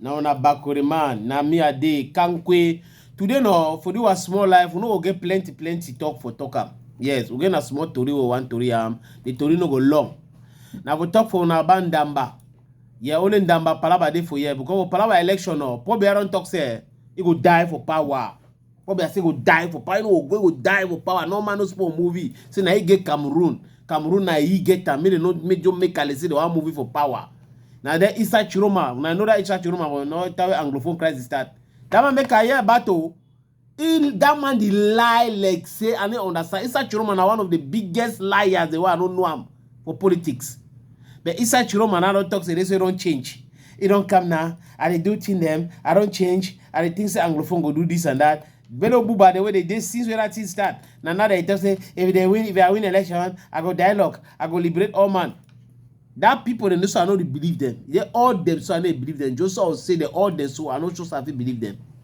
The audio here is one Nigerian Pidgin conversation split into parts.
na una bakore man na me i dey kankwe today no for do our small life we no go get plenty plenty talk for talk am yes we get na small tori we wan tori am the tori no go long na for talk for una about ndamba yeah only ndamba palaba dey for here because for palaba election no poor biara don talk say eh, he go die for power What be I say go die for power? You know, go die for power. No man no sport movie. Say now he get Cameroon. Cameroon now he get am. Make they no make John make Kale say they want movie for power. Now then Isa Chiroma. Now I know that Isa Chiroma will not tell Anglophone crisis start. That man make a year battle. He, that man the lie like say I don't understand. Isa Chiroma now one of the biggest liars. The way I don't know him. for politics but inside chiroma now don talk say this way don change e don come now i dey do thing dem i don change i dey think say anglophone go do this and that bello buba the way they dey since wey that thing start na now they talk say if they win if i win election i go dialogue i go liberate all man that people dem so i no dey believe them they all them so i no dey believe them joseph say they all them so i no sure say i fit believe them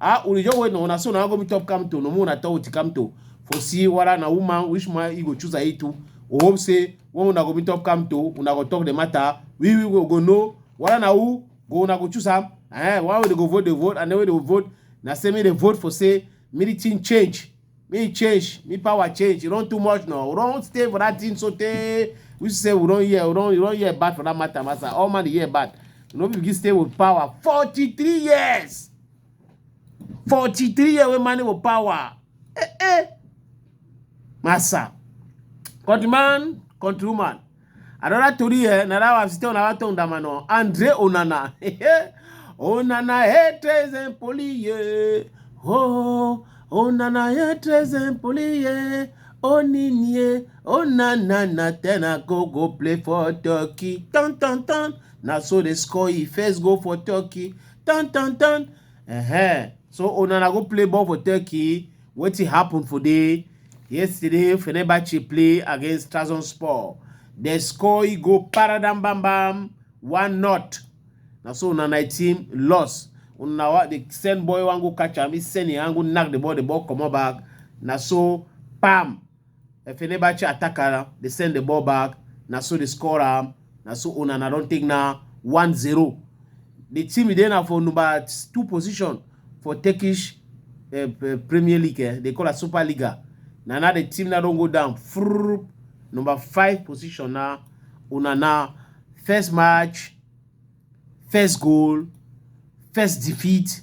Ah, ulijo we no na so na go mi top kam to no mu na to uti kam to. For see wala na woman which man you go choose a itu. O hope say when una go mi top kam to una go talk the matter. We we go go know wala na u go una go choose am. Eh, why we dey go vote dey vote and then we dey vote na say me dey vote for say military change. me change me power change e run too much now we don stay for that thing so tey we say we don hear we don we don hear bad for that matter master all man dey hear bad we no begin stay with power forty three years forty three years wey man with power eh eh master countryman countrywoman Another tori here, na that one still another tongue that man on. Andre Onana. Onana haters and police. Oh, Onana haters and police. Oninie, Onana na ten I go go play for Turkey. Tan tan tan. Na so they score he first go for Turkey. Tan tan tan. Uh -huh. So Onana go play ball for Turkey. Wetin happen for there? Yesterday, Fenerbahce play against Trabzonspor. They score, e go paradam bam bam, one not. Na so na my team loss. Una wa the send boy wan go catch am, he send him hand go knack the ball, the ball comot back. Na so pam. Fenerbahce attacker dey send the ball back na so dey score am na so Onana don take na 1-0 the team dey na for number two position for Turkish uh, Premier League eh, they call it Super Liga na now the team now don go down Frrrr. number five position na Onana first match first goal, first defeat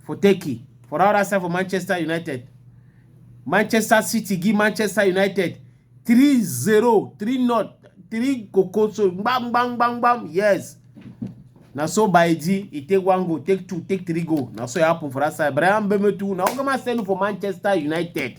for Turkey. For our other side for Manchester United. Manchester City give Manchester United 3-0, 3-0, 3 kokoso, bam, bam, bam, bam, yes. Now so by G, he take one goal, take two, take three goal. Now so it happened for that side. Brian Bemetu, now come and send for Manchester United.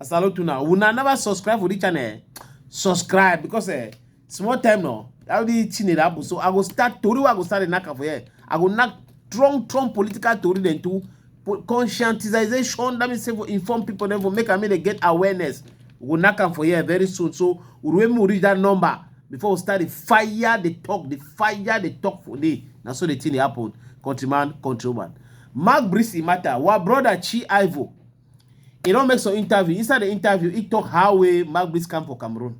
I salute you now. Una never subscribe for this channel. Eh? Subscribe because eh, small time now. I will chine rabu. So I go start tori I go start knock for here. I go knock strong, strong political tori then too. Conscientization that means for inform people then for make I mean they get awareness. We go knock for here very soon. So when we reach that number before we start the fire the talk the fire the talk for day. Now so the thing happen. Countryman, countryman. Mark Brisi matter. Wa brother Chi Ivo. e don make some interview inside the interview he talk how wey magbis come for cameroon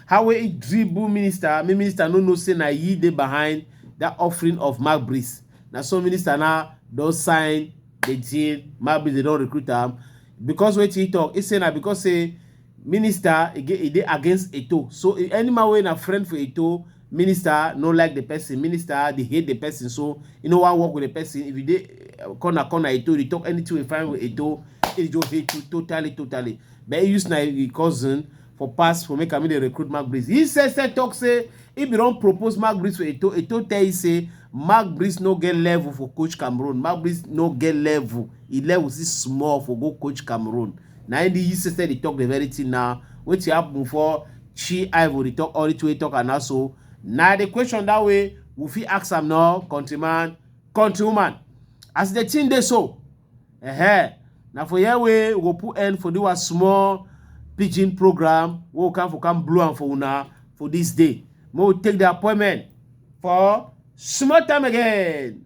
how wey he dribble minister me minister no know say na he dey behind that offering of magbis na so minister now don sign the deal magbis dey don recruit am because wetin he talk he say na because say minister e get e dey against eto so e- any man wey na friend for eto Minister no like the person, minister dey hate the person so e no wan work with the person. If you dey eh, corner corner Eto, you talk anything wey find with Eto, he just hate you totally totally. But he use na him cousin for pass for make am make dey recruit Mark Breeze. He said said talk say he bin don propose Mark Breeze for Eto, Eto tell him say Mark Breeze no get level for coach Cameroon, Mark Breeze no get level, he level still small for go coach Cameroon. Na him the he said said dey talk the very thing na wetin happen for She Ivory talk all it way talk and also now the question that way we fit ask am now countryman countrywoman as the thing dey so uh -huh. na for here way we go put end for do a small pidgin program wey we come for come blow am for una for this day may we take the appointment for small time again.